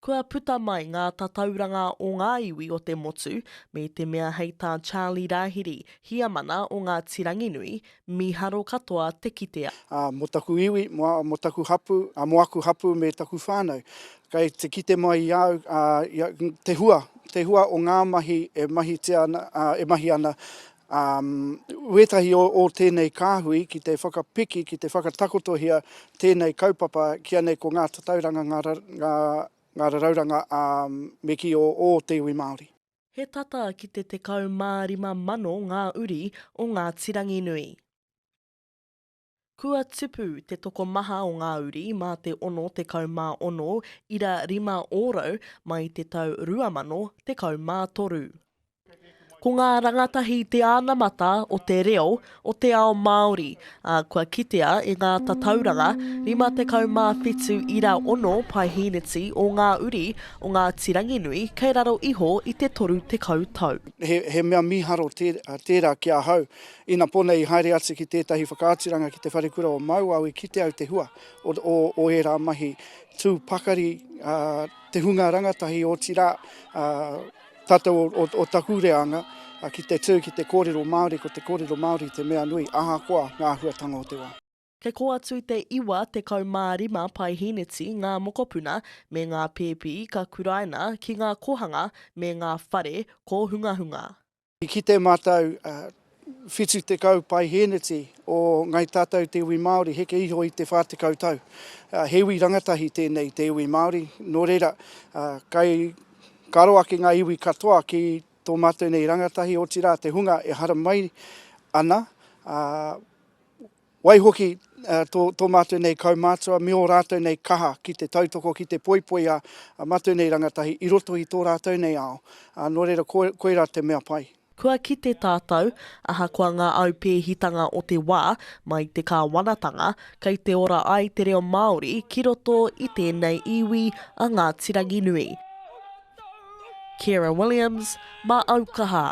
Kua puta mai ngā tatauranga o ngā iwi o te motu, me te mea hei tā Charlie Rahiri, Hiamana o Ngāti Ranginui, miharo katoa te kitea. Ā, mō taku iwi, mō taku hapū, ā, mō aku hapū me taku whānau, kei te kite mai i a au, ā, te hua, te hua o ngā mahi e mahitia ana, ā, e mahi ana, ā, wētahi o o tēnei kāhui ki te whakapiki, ki te whakatakotohia tēnei kaupapa ki a nei ko ngā tatauranga, ngā ra, ngā, ngā rarauranga, ā, me kī o ō te iwi Māori. He tata ki te 15,000 ngā uri o Ngāti Ranginui. Kua tupu te tokomaha o ngā uri mā te 66 ira rima ōrau mai te tau 2013. Ko ngā rangatahi te anamata o te reo o te ao Māori, ā, kua kitea e ngā tatauranga 57 ira ono paehīneti o ngā uri o Ngāti Ranginui kei raro iho i te 30 tau. He mea mīharo tērā ki ahau, Ina pō nei i haere atu ki tētahi whakaaturanga ki te wharekura o Mauao i kite au te hua o, o, o ērā mahi tū pakari a, te hunga rangatahi otirā a, tātou o, o, o taku reanga a, ki te tū ki te kōrero Māori ko te kōrero Māori te mea nui ahakoa ngā āhuatanga o te wā. Kei kō atu te 95 pae hīneti, ngā mokopuna, me ngā pēpi ka kuraina ki ngā kōhanga me ngā whare kōhungahunga. I kite mātou 70 pae hīneti o Ngāi Tātou te iwi Māori heke iho i te 40 tau. He iwi rangatahi tēnei te iwi Māori, nō reira, kai karo ake ngā iwi katoa ki tō mātou nei rangatahi, otirā te hunga e haramai ana, ā, Waihoki, tō, tō mātou nei kaumātua me ō rātou nei kaha ki te tautoko, ki te poipoi a, a mātou nei rangatahi i roto i tō rātou nei ao. Ā, nō reira, ko, koirā te mea pai. Kua kite tātou, ahakoa ngā aupēhitanga o te wā, mai te kāwanatanga, kei te ora ai te reo Māori ki roto i tēnei iwi a Ngāti Ranginui. Ciara Williams, Mā Aukaha.